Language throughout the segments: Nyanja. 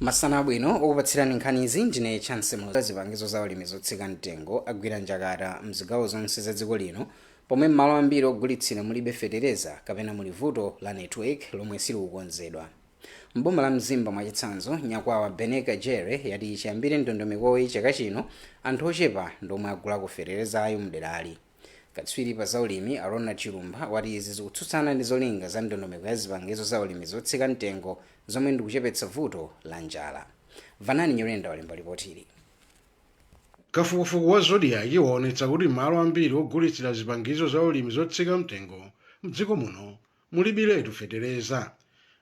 masana abwino okupatsirani nkhanizi ndine chance muloza zipangizo za ulimi zotsika mtengo agwira njakata mzigawo zonse za dziko lino pomwe m'malo ambiri ogulitsira mulibe fetereza kapena muli vuto la network lomwe silikukonzedwa mboma la mzimba mwachitsanzo nyakwawa beneka jere yati chiyambire ndondomekoyi chaka chino anthu ochepa ndiomwe agulako feterezayo mderali Katswiri pa zaulimi a Ronald Chilumpha wati izi zikutsutsana ndi zolinga za ndondomeko ya zipangizo zaulimi zotsika mtengo zomwe ndikuchepetsa vuto la njala. Vanani Nyirenda walemba lipotili. Kafukufuku wa Zodiak waonetsa kuti malo ambiri ogulitsira zipangizo zaulimi zotsika mtengo mdziko muno Mulibiletu fetereza.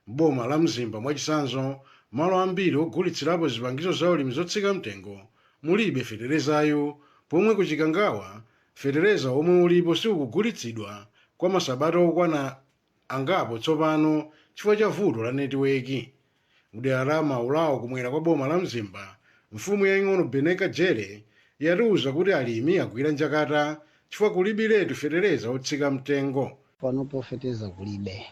M'boma la Mzimba mwachitsanzo, malo ambiri ogulitsirapo zipangizo zaulimi zotsika mtengo mulibe feterezayu pomwe ku Chikangawa fetereza womwe ulipo sukugulitsidwa kwa masabata okwana angapo tsopano chifukwa cha vuto la netiweki. Mdera la Maulawo kumwera kwa boma la Mzimba, mfumu yaing'ono Beneka Jere yatiuza kuti alimi agwira njakata chifukwa kulibiletu fetereza otsika mtengo. Panopo fetereza kulibe,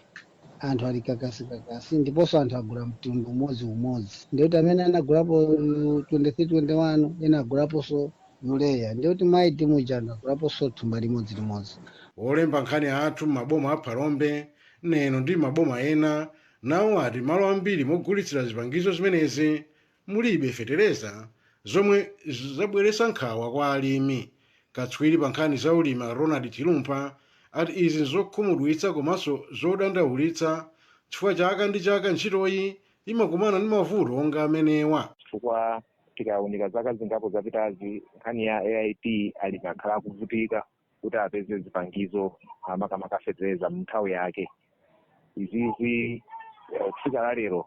anthu ali kakasi-kakasi ndiponso anthu agula mtundu umodzi-umodzi. Ndiye kuti amene anagulapo 23 21 ena agulaponso Urea ndiye kuti ma 8 muja anthu agulaponso thumba limodzi-limodzi. Olemba nkhani athu m'maboma a Phalombe, Neno ndi m'maboma ena nawo ati mmalo ambiri mogulitsira zipangizo zimenezi mulibe fetereza zomwe zabweretsa nkhawa kwa alimi. Katswiri pa nkhani za ulimi a Ronald Chilumpha ati izi nzokhumudwitsa komanso zodandaulitsa chifukwa chaka ndi chaka ntchitoyi imakumana ndi mavuto onga amenewa. chifukwa tikaunika zaka zingapo zapitazi nkhani ya AIP alimi akhala akuvutika kuti apeze zipangizo ah, makamaka fetereza mnthawi yake izizi eh, kufika la lero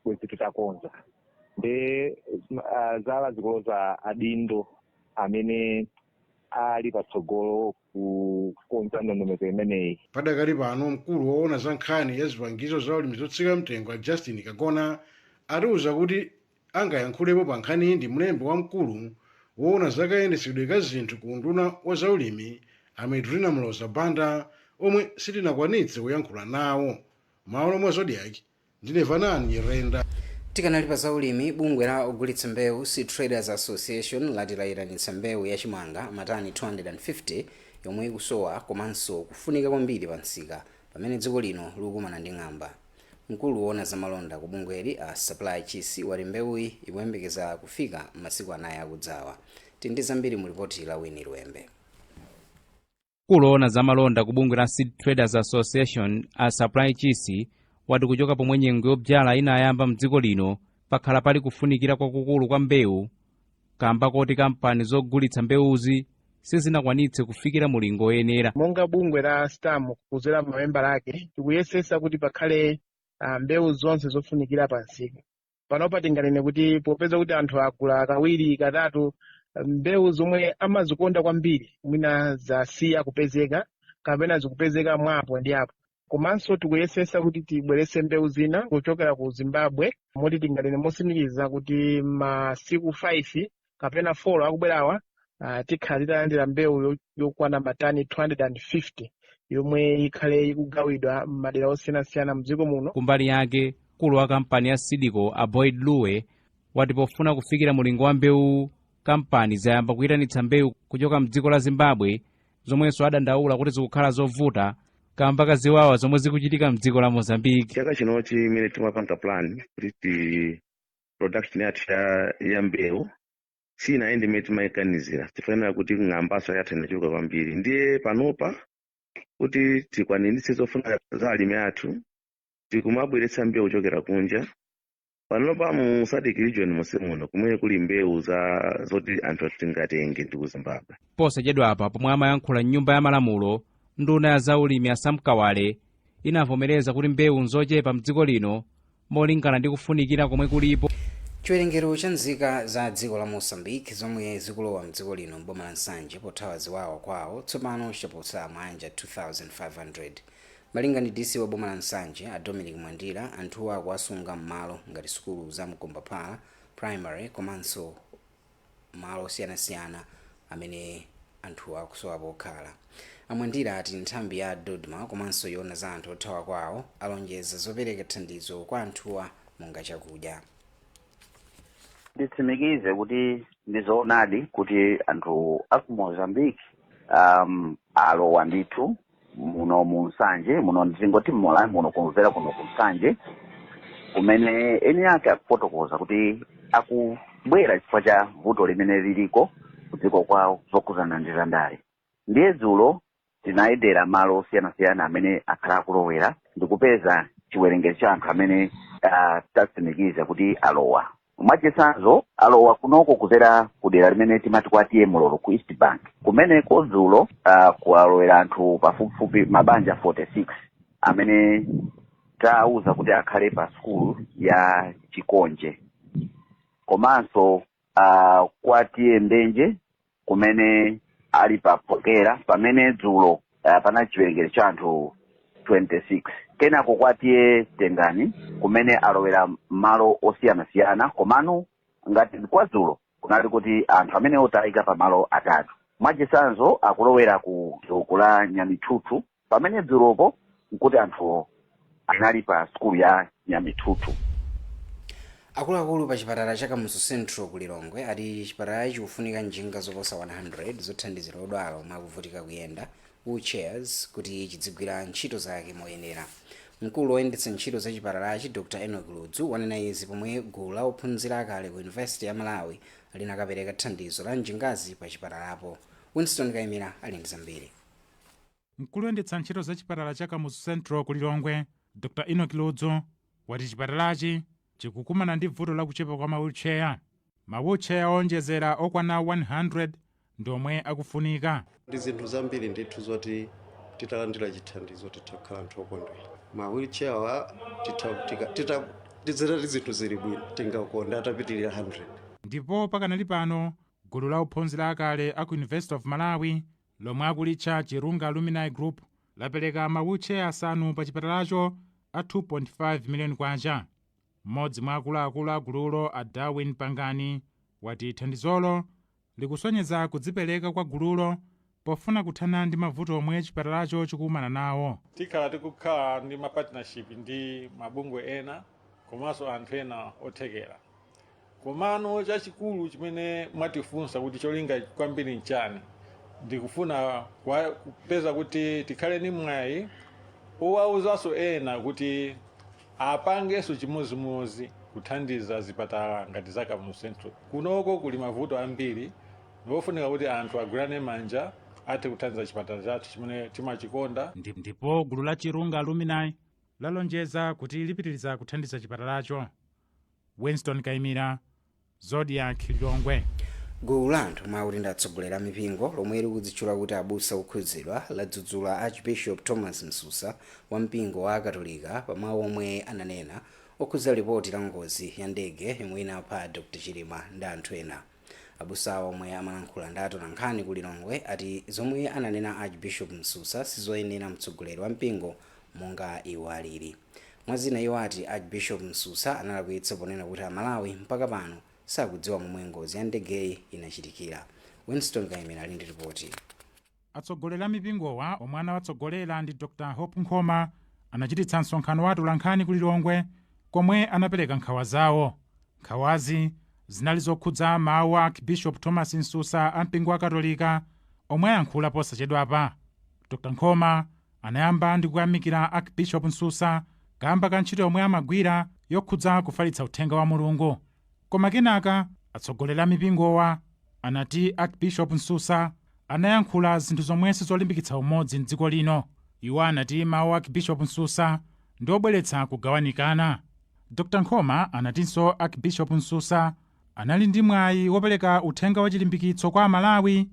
bwezi titakonza nde ah, zala zikuloza adindo amene ali patsogolo kukonza ndondomeko imeneyi padakali pano mkulu woona za nkhani ya zipangizo za ulimi zotsika mtengo a justin kagona atiuza kuti angayankhulepo pa nkhaniyi ndi mlembi wamkulu woona za kayendetsedwe ka zinthu ku unduna wa zaulimi a Medrina Muloza Banda omwe sitinakwanitse kuyankhula nawo. Mmalo mwa Zodiak, ndine Vanani Nyirenda. Tikanali pa zaulimi, bungwe la ogulitsa mbewu, Seed Traders Association, lati layitanitsa mbewu ya chimanga matani 250 yomwe ikusowa komanso kufunika kwambiri pa msika pamene dziko lino likukumana ndi ng'amba. Mkulu woona za malonda ku bungweli a Supply Chisi wati mbewuyi ikuyembekeza kufika m'masiku anayi akudzawa. Tili ndi zambiri mu lipoti la Winnie Luembe. Mkulu woona za malonda ku bungwe la Seed Traders Association a Supply Chisi wati kuchoka pomwe nyengo yobzyala inayamba mdziko lino pakhala pali kufunikira kwakukulu kwa mbewu kamba koti kampani zogulitsa mbewuzi sizinakwanitse kufikira mulingo woyenera monga bungwe la stam kudzera mamembala ake tikuyesetsa kuti pakhale ah, mbewu zonse zofunikira pa msika panopa tinganene kuti popeza kuti anthu agula kawiri katatu ah, mbewu zomwe amazikonda kwambiri mwina zasiya kupezeka kapena zikupezeka mwa apo ndi apo komanso tikuyesesa kuti tibwerese mbewu zina kuchokera ku zimbabwe moti tinganene mosimikiza kuti masiku 5 kapena 4 akubwerawa uh, tikhala titalandira mbewu yo- yokwana matani 250 yomwe ikhale ikugawidwa m'madera osiyanasiyana mdziko muno kumbali yake mkulu wa kampani ya seed co a boyd luwe wati pofuna kufikira mulingo wa mbewu kampani zayamba kuyitanitsa mbewu kuchoka mdziko la zimbabwe zomwenso adandaula kuti zikukhala zovuta kamba ka ziwawa zomwe zikuchitika mdziko la mozambique chaka chinochi mmene timapanga plan kuti ti production yathu ya- ya mbewu siyinayende mmene timayiganizira chifukwa kuti ng'ambaso yathu inachuluka kwambiri ndiye panopa kuti tikwaniritse zofuna za alimi athu tikumabweretsa mbewu kuchokera kunja panopa mu sadc region monse muno kumene kuli mbewu za zoti anthu tingatenge ndi ku zimbabwe posachedwapa pomwe amayankhula m'nyumba ya malamulo nduna ya zaulimi a sam kawale inavomereza kuti mbewu nzochepa mdziko lino molingana ndi kufunikira komwe kulipo chiwerengero cha nzika za dziko la mozambique zomwe zikulowa mdziko lino mboma la nsanje pothawa ziwawa kwawo tsopano chaposa maanja 2500 Malinga ndi DC wa boma la Nsanje, a Dominic Mwandira, anthuwa akuwasunga mmalo ngati sukulu za Mkombaphala Primary komanso malo osiyanasiyana amene anthuwa akusowa pokhala. A Mwandira ati nthambi ya Dodma komanso yoona za anthu othawa kwawo alonjeza zopereka thandizo kwa anthuwa monga chakudya. Nditsimikize kuti ndi zoonadi kuti anthu a ku Mozambique um, alowa ndithu muno mu nsanje muno ndingoti mmalawi muno kudzera kuno ku nsanje kumene eni ake akufotokoza kuti akubwera chifukwa cha vuto limene liliko kudziko kwawo zokhudzana ndi zandale ndiye dzulo tinayendera malo osiyanasiyana amene akhala akulowera ndikupeza chiwerengero cha anthu amene ah, tatsimikiza kuti alowa mwachitsanzo alowa kunoko kudzera ku dera limene timati kwa T/A Mlolo ku east bank kumeneko dzulo uh, kuwalowera anthu pafupifupi mabanja 46 amene tawauza kuti akhale pa sukulu ya chikonje komanso uh, kwa T/A Mbenje kumene ali pa phokera pamene dzulo uh, panali chiwerengero cha anthu 26 kenako kwa T/A Tengani kumene alowera mmalo osiyanasiyana komano ngati kwa dzulo kunali kuti anthu amene otayika pa malo atatu mwachisanzo akulowera ku doko la nyamithuthu Pamene dzulopo nkuti anthu anali pa sukulu ya Nyamithuthu. Akuluakulu pa chipatala cha Kamuzu Central ku Lilongwe ati chipatalachi chikufunika njinga zoposa 100 zothandizira odwala omwe akuvutika kuyenda, wheel chairs, kuti chidzigwira ntchito zake moyenera. Mkulu oyendetsa ntchito za chipatalachi Dr Enock Ludzu wanena izi pomwe gulu la ophunzira akale ku University ya Malawi linakapereka thandizo la njingazi pa chipatalapo. Winston Kaimira ali ndi zambiri. Mkulu oyendetsa ntchito za chipatala cha Kamuzu Central ku Lilongwe, Dr Enock Ludzu, wati chipatalachi chikukumana ndi vuto la kuchepa kwa ma wheelchair. Ma wheelchair oonjezera okwana 100 ndi omwe akufunika. Ndi zinthu zambiri ndithu zoti titalandira chithandizo titha kukhala anthu okondwera. Ma wheelchair-wa tizitati zinthu zili bwino tingakonde atapitirira 100. Ndipo pakanali pano, gulu la ophunzira akale a ku University of Malawi lomwe akulitcha Chirunga Alumni Group, lapereka ma wheelchair asanu pa chipatalacho a K2.5 million. M'modzi mwa akuluakulu a gululo a Darwin Pangani wati thandizolo likusonyeza kudzipereka kwa gululo pofuna kuthana ndi mavuto omwe chipatalacho chikukumana nawo. Tikhala tikukhala ndi ma partnership ndi mabungwe ena komanso anthu ena othekera. komano chachikulu chimene mwatifunsa kuti cholinga kwambiri nchani ndikufuna kupeza kuti tikhale ni mwayi owawuzanso ena kuti apangenso chimodzimodzi kuthandiza zipatala ngati za kamuzu central kunoko kuli mavuto ambiri ndiofunika kuti anthu agwirane manja athe kuthandiza chipatala chathu chimene timachikonda Ndipo gulu la chirunga alumni lalonjeza kuti lipitiriza kuthandiza chipatalacho Winston Kaimira, Zodiak, Lilongwe. Gulu la anthu omwe akuti ndi atsogoleri a mipingo lomwe likudzitchula kuti Abusa Okhudzidwa ladzudzula Archbishop Thomas Msusa wa mpingo wa akatolika pa mawu omwe ananena okhudza lipoti la ngozi ya ndege yomwe inapha Dr Chilima ndi anthu ena. Abusawa omwe amalankhula ndi atolankhani ku Lilongwe ati zomwe ananena Archbishop Msusa sizoyenera mtsogoleri wa mpingo monga iwo alili. Mwa zina iwo ati Archbishop Msusa analakwitsa ponena kuti Amalawi mpaka pano sakudziwa momwe ngozi ya ndegeyi inachitikira. Winston Kaimira ali ndi lipoti. Atsogoleri a mipingowa omwe anawatsogolera ndi Dr Hope Nkhoma anachititsa msonkhano wa atolankhani ku Lilongwe komwe anapereka nkhawa zawo. Nkhawazi zinali zokhudza mawu a Archbishop Thomas Msusa a mpingo wa Katolika omwe ayankhula posachedwapa. Dr Nkhoma anayamba ndi kuyamikira Archbishop Msusa kaamba ka ntchito yomwe amagwira yokhudza kufalitsa uthenga wa Mulungu. Koma kenaka atsogoleri a mipingowa anati Archbishop Msusa anayankhula zinthu zomwe sizolimbikitsa umodzi m'dziko lino. Iwo anati mawu a Archbishop Msusa ndi obweretsa kugawanikana. Dr Nkhoma anatinso Archbishop Msusa anali ndi mwayi wopereka uthenga wa chilimbikitso kwa Amalawi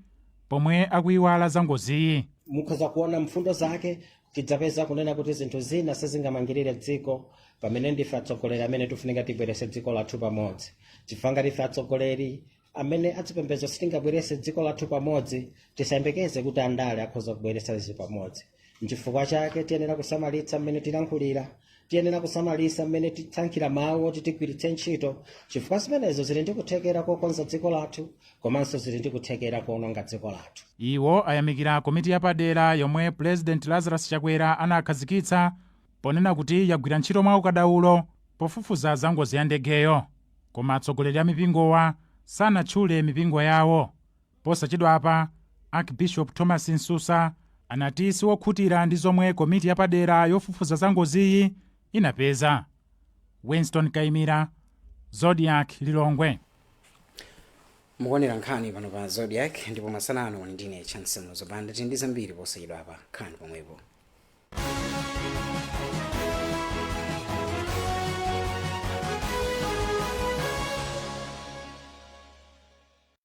pomwe akuiwala za ngoziyi. Mukhoza kuona mfundo zake tidzapeza kunena kuti zinthu zina sizingamangirire dziko pamene ndife atsogoleri amene tifunika tibwerese dziko lathu pamodzi chifukwa ngati ife atsogoleri amene azipembedzo sitingabwerese dziko lathu pamodzi tisayembekeze kuti andale akhoza kubweresa izi pamodzi nchifukwa chake tiyenera kusamalitsa mmene tilankhulira tiyenera kusamalitsa mmene tisankhira mawu oti tigwiritse ntchito chifukwa zimenezo zili ndi kuthekera kokonza dziko lathu komanso zili ndi kuthekera kuononga dziko lathu iwo ayamikira komiti yapadera yomwe pulezidenti lazarus chakwera anakhazikitsa ponena kuti yagwira ntchito mwa ukadaulo pofufuza za ngozi ya ndegeyo koma atsogoleri a mipingowa sanatchule mipingo yawo Posachedwapa, Archbishop Thomas Msusa anati si wokhutira ndi zomwe komiti yapadera yofufuza za ngoziyi inapeza. Winston Kaimira, Zodiak, Lilongwe. mukuonera nkhani pano pa zodiak ndipo masana ano ndine chance muzo banda tili ndi zambiri posachedwapa khalani pomwepo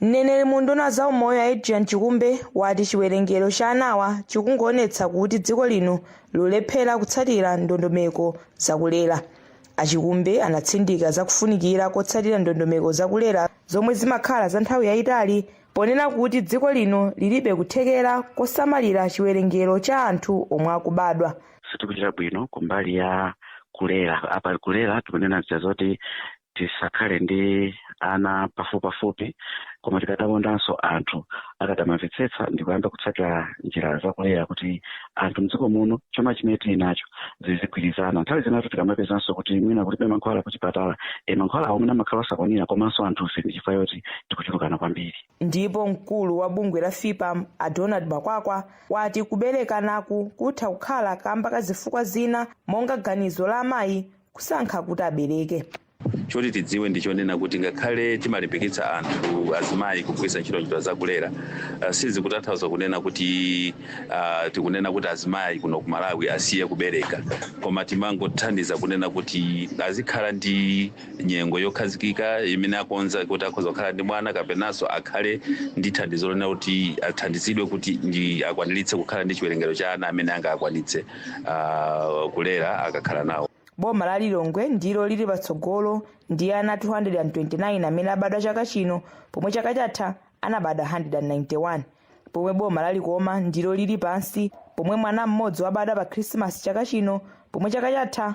Mneneri mu unduna wa zaumoyo a Adrian Chikumbe wati chiwerengero cha anawa chikungoonetsa kuti dziko lino likulephera kutsatira ndondomeko zakulera. A Chikumbe anatsindika za kufunikira kotsatira ndondomeko zakulera zomwe zimakhala za nthawi yayitali ponena kuti dziko lino lilibe kuthekera kosamalira chiwerengero cha anthu omwe akubadwa. sitikuchita bwino kumbali ya kulera apa kulera tikunena zija zoti tisakhale ndi ana pafupipafupi koma tikadakondanso anthu akadamamvetsetsa ndi kuyamba kutsatira njira zakulera kuti anthu mdziko muno chuma chimene tili nacho zizigwirizana nthawi zinatu tikamapezanso kuti mwina kulibe mankhwala kuchipatala e mankhwala omwe amakhala osakwanira komanso anthufe ndi chifukwa yoti tikuchulukana kwambiri ndipo mkulu wa bungwe la fpam a donald makwakwa wati kuberekanaku kutha kukhala kamba ka zifukwa zina monga ganizo la amayi kusankha kuti abereke choti tidziwe ndi chonena kuti ngakhale timalimbikitsa anthu azimayi kugwiritsa ntchito njira zakulera uh, sizikutanthauza kunena kuti uh, tikunena kuti azimayi kuno ku malawi asiye kubereka koma timangothandiza kunena kuti azikhala ndi nyengo yokhazikika imene akonza kuti akhoza kukhala ndi mwana kapenanso akhale ndi thandizo lonena kuti athandizidwe kuti ndi akwaniritse kukhala ndi chiwerengero cha ana amene angakwanitse uh, kulera akakhala nawo boma la lilongwe ndilo lili patsogolo ndi ana 229 amene abadwa chaka chino pomwe chaka chatha anabadwa 191 pomwe boma la likoma ndilo lili pansi pomwe mwana mmodzi wabadwa pa khrisimasi chaka chino pomwe chaka chatha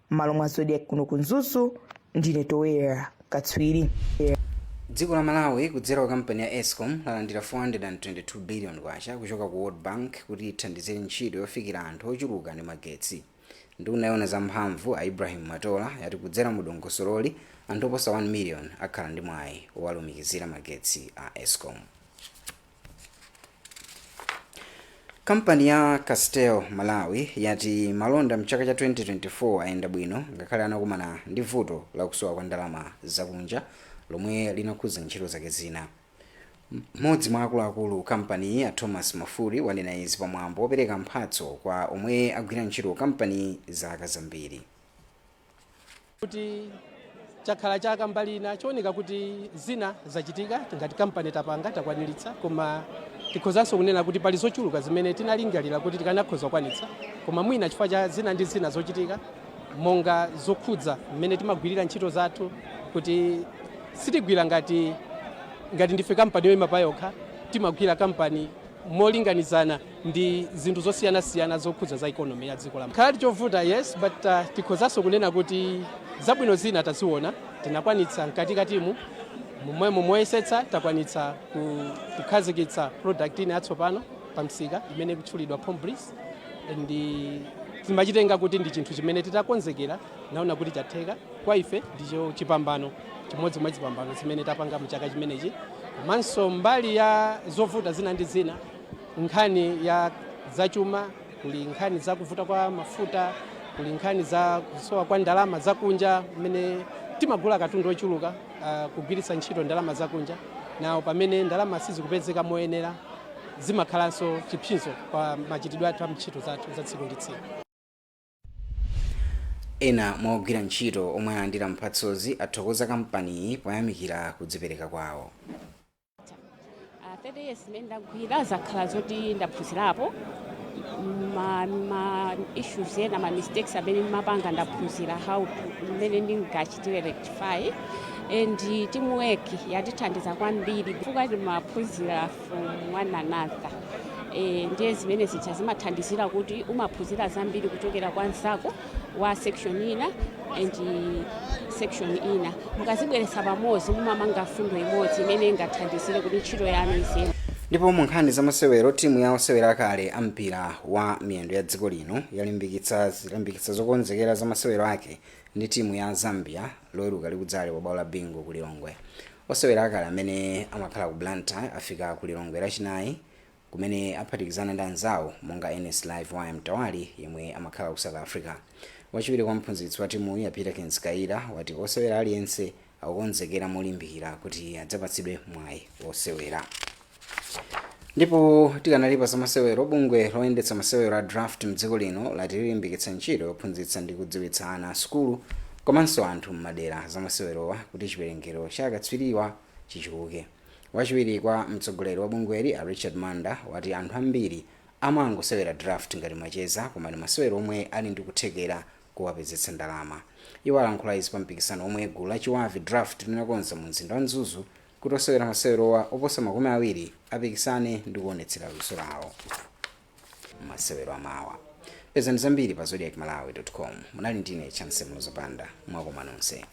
m'malo mwa zodiak kuno ku mzuzu ndine towera katswiri dziko la malawi kudzera kwa kampani ya escom lalandira 422 billion kwacha kuchoka ku world bank kuti ithandizire ntchito yofikira anthu ochuluka ndi magetsi nduna yowona za mphamvu a ibrahim matola yati kudzera mu dongosololi anthu oposa 1 million akhala ndi mwayi owalumikizira magetsi a escom kampani ya castel malawi yati malonda mchaka cha 2024 ayenda bwino ngakhale anakumana ndi vuto la kusowa kwa ndalama zakunja lomwe linakhudza ntchito zake zina mmodzi mwa akuluakulu kampaniyi a thomas mafuli wanena izi pamwambo wopereka mphatso kwa omwe agwira ntchito kampani zaka zambiri kuti chakhala chaka mbali ina chooneka kuti zina zachitika ngati kampani tapanga takwaniritsa koma tikhozanso kunena kuti pali zochuluka zimene tinalingalira kuti tikanakhoza kukwanitsa koma mwina chifukwa cha zina ndi zina zochitika monga zokhudza mmene timagwirira ntchito zathu kuti sitigwira ngati ngati ndife kampani yoyima pa yokha timagwira kampani molinganizana ndi zinthu zosiyanasiyana zokhudza za economy ya dziko lakhaladi chovuta yes but uh, tikhozanso kunena kuti zabwino zina taziona tinakwanitsa mkatikatimu momwemo moyesetsa takwanitsa ku- kukhazikitsa product ina yatsopano pa msika imene ikutchulidwa pomme breeze ndi timachitenga kuti ndi chinthu chimene titakonzekera naona kuti chatheka kwa ife ndicho chipambano chimodzi mwa zipambano zimene tapanga mchaka chimenechi komanso mbali ya zovuta zina ndi zina Nkhani ya zachuma, kuli nkhani za kuvuta kwa mafuta, kuli nkhani za kusowa kwa ndalama zakunja mmene timagula katundu ochuluka uh, kugwiritsa ntchito ndalama zakunja nawo pamene ndalama sizikupezeka moyenera zimakhalanso chipsinjo pa machitidwe athu a ntchito zathu za tsiku ndi tsiku. ena mwa ogwira ntchito omwe alandira mphatsozi athokoza kampaniyi poyamikira kudzipereka kwawo Ah, 30 years imene ndagwira zakhala zoti ndaphunzirapo ma, ma issues ena ma mistakes amene ndimapanga ndaphunzira how to- mmene ndingachitire rectify and teamwork yatithandiza kwambiri chifukwa timaphunzira from one another, ndiye zimene zija zimathandizira kuti umaphunzira zambiri kuchokera kwa mzako wa section ina and section ina mukazibweretsa pamodzi mumamanga fundo imodzi imene ingathandizire kuti ntchito yanu iziyenda ndipo mu nkhani za masewero timu ya osewera akale a mpira wa miyendo ya dziko lino yalimbikitsa zilimbikitsa zokonzekera za masewero ake ndi timu ya zambia loweruka likudzali pa bwalo la bingu ku lilongwe Osewera akale amene amakhala ku Blantyre afika ku Lilongwe lachinayi kumene aphatikizana ndi anzawo monga Ernest Live Wire Mtawali yemwe amakhala ku South Africa. Wachiwiri kwa mphunzitsi wa timuyi a Peterkins Kayira wati osewera aliyense akukonzekera molimbikira kuti adzapatsidwe mwayi wosewera. ndipo tikanali pa zamasewero bungwe loyendetsa masewero a draft mdziko lino lati lilimbikitsa ntchito yophunzitsa ndi kudziwitsa ana a sukulu komanso anthu m'madera zamasewerowa kuti chiwerengero cha akatswiriwa chichuluke wachiwiri kwa mtsogoleri wa bungweli a richard manda wati anthu ambiri amangosewera draft ngati macheza koma ndi masewero omwe ali ndi kuthekera kowapezetsa ndalama iwo alankhula izi pa mpikisano omwe gulu la Chibavi draft linakonza mu mzinda wa mzuzu kuti osewera masewerowa oposa makumi awiri apikisane ndi kuonetsera luso lawo masewero amawa pezani zambiri pa zodiak malawi com munali ndine Chancy Muloza Banda mwakoma nonse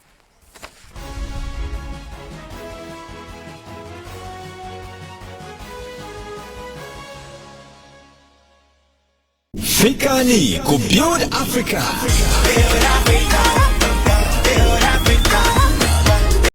Fikani ku Build Africa.